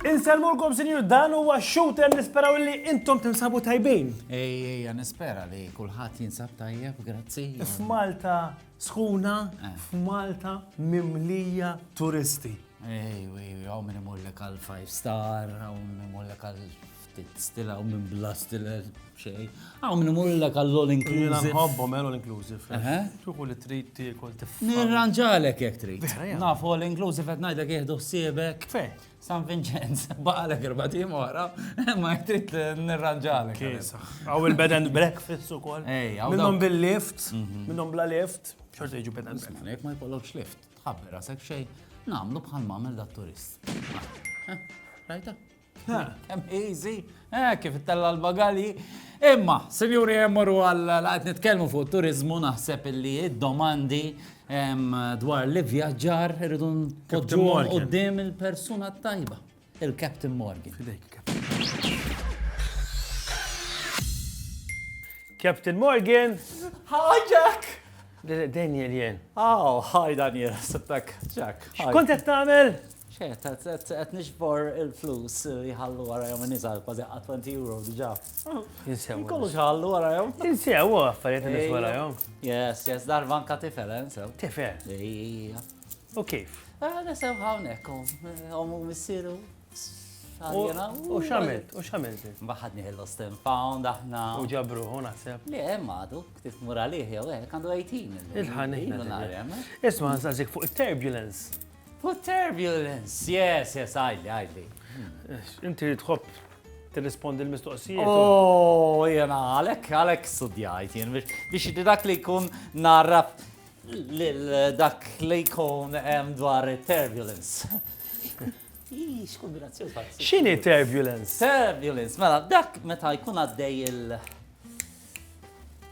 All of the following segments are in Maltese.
Inselmulkom sinjur dan huwa shooter nisperaw li intom tinsabu tajbin. Ej, ej, nispera li kulħadd jinsab tajjeb, grazzi. F'Malta Sħuna f'Malta mimlija turisti. Ejw, ejw, hawn min imullek għal five star, hawn min imullek għal ftit stil, hawn min bla stil xejn. Hawn min imullek għal all inclusive. Jiena nħobbhom eh, all inclusive. Tuħu li trid tiekol tifhem. Nirranġalek jekk trid. Naf all inclusive qed ngħidlek jieħdu ħsiebek. Fej. San Vincenz, baqalek erba' tim oħra, ma jtrit nirranġalek. Għaw il-bed and breakfast u kol. Minnom bil-lift, mhm. minnom bla lift, xorta jġu bed and breakfast. Jek ma jkollokx lift, tħabber għasek xej, namlu bħal mamel da turist. Rajta? Easy. Eh, kif ittella l-bagalji. Imma, sinjuri jemmuru għal għat nitkellmu fuq turizmu naħseb illi domandi dwar li vjaġġar irridu npoġġu qudiem il-persuna tajba, il-Captain Morgan. Captain Morgan! Hi, Jack! Daniel jen. Oh, hi Daniel, sittak, Jack. Xkont qed tagħmel? Ċert, qed niġbor il-flus li ħallu warajhom in-nisa kważi qa' 20 euro diġà. Insew. Kollu x'ħallu warajhom. Insew affarijiet in-nies warajhom. Yes, yes, darba anka tifel, eh, insew. Tifel? Ejja. U kif? Eh, nisew hawnhekk, omu oh, missieru. U xamilt, u xamilt. Baħad nieħil Austin Pound aħna. U ġabru, u naħseb. Le, madu, ktif muralih jew hekk għandu 18. Il-ħan. Isma' nsażik fuq it-turbulence. Hu turbulence, yes, yes, għajli, għajli. Inti tħobb tirrispondi l-mistoqsijiet. Oh, jena, għalek, għalek studjajt, jen, biex dak li kun narra dak li kun dwar turbulence. Ix, kombinazzjoni. Xini turbulence? Turbulence, mela, dak meta jkun għaddej il-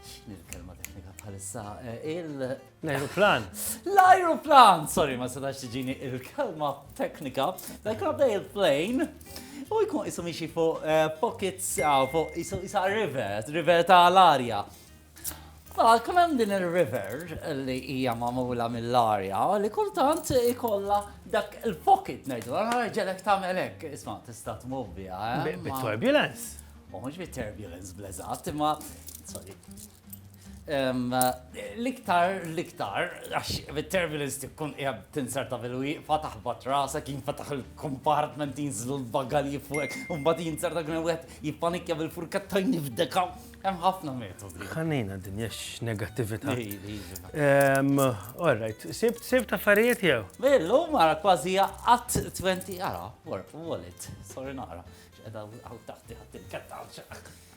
xini l-kelma teknika bħalissa, eh, il- L-ajruplan. L-ajruplan! Sorry, ma setax tiġini il-kelma teknika. Dak għabda il-plane. U jkun jisu miexi fuq eh, pockets, ah, fuq jisu jisa river, river ta' l-arja. Ah, kun hemm din il-river li hija magħmula mill-arja li kultant ikolla dak il-pocket ngħidu, għara ġelek tagħmel hekk, isma' tista' tmur biha. Eh, bit-turbulence. U mhux bit-turbulence bleżat, imma sorry. L-iktar, l-iktar, għax bit-turbulence tikkun qiegħed tinserta fil-wieqfa taħbat rasek jinfetaħ il-compartment jinżlu l-bagalji fuq, u mbagħad jinserta kien wieħed jippanikja bil-furketta jnifdeka. Hemm ħafna metodi. Ħanejna din jax negattività. All right, sibt sibt affarijiet jew? Billu mara kważi qatt 20 ara, wallet, sorry nara. X'qeda għaw taħti ħadd il-ketta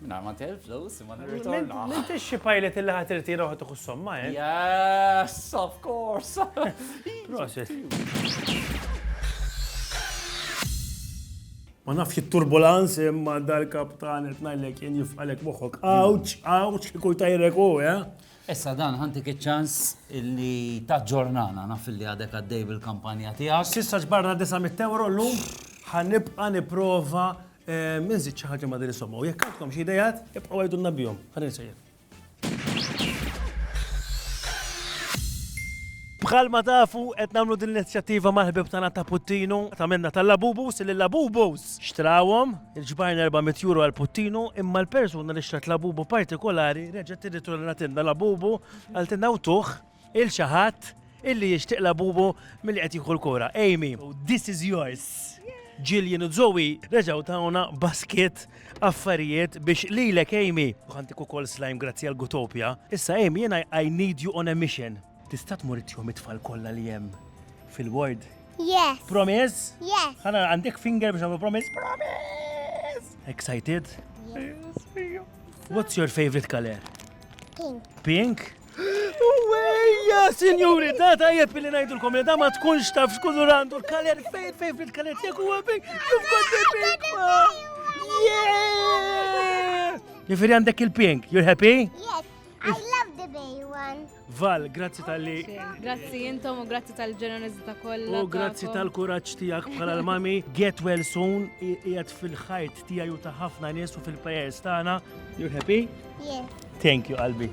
Minna ma tel flus, ma nirritorna. Minti xi pilot li ħat irtira ħat uħu somma, eh? Yes, of course. Prosit. Ma nafx il-turbulanz imma dal-kaptan etnajlek jen jifqalek moħok. Awċ, awċ, kikuj tajrek u, eh? Issa dan ħantik iċ-ċans li ta' ġornana naf li għadek għaddej bil-kampanja tiegħek. Sissa ġbarna 900 euro l-lum ħanibqa niprova Inżid xi ħaġa ma' din is-somma u jekk għandkom xi idejat, ibqgħu għidulna bihom. Ħalli nsejjer. Bħal ma tafu qed nagħmlu din l-inizjattiva mal-ħbib tagħna ta' Puttinu ta' minna tal-Labubus li Labubus xtrawhom il-ġbajn 400 euro għal Puttinu imma l-persuna li xtrat Labubu partikolari reġgħet tirritornatilna Labubu għal tinna tuħ 'il xi ħadd illi jixtieq Labubu milli qed jieħu l-kura. Amy, this is yours! Jillian u Zoe reġgħu tawna basket affarijiet biex lilek Amy, u ħantik ukoll slime grazzi għal Gutopia. Issa Amy jiena I need you on a mission. Tista' tmur ittihom it-tfal kollha li hemm fil-ward? Yes! Promise? Yes! Ħa nara għandek finger biex nagħmlu promise? Promise! Excited? Yes! What's your favorite color? Pink. Pink? Uwejja, sinjuri, da tajjeb li ngħidulkom li da ma tkunx taf x'kulur għandu l-kaler fejn fejn fil-kaler tiegħek huwa bik kif kont Jifiri għandek il-pink, you're happy? Yes, I love the bay one. Val, grazzi tal-li. Grazzi jintom u grazzi tal-ġenerozita kollha. U grazzi tal-kuraġġ tiegħek bħala l-mami. Get well soon, qiegħed fil-ħajt Tiegħi u ta' ħafna nies u fil-prayers tagħna. You're happy? Yeah. Thank you, qalbi.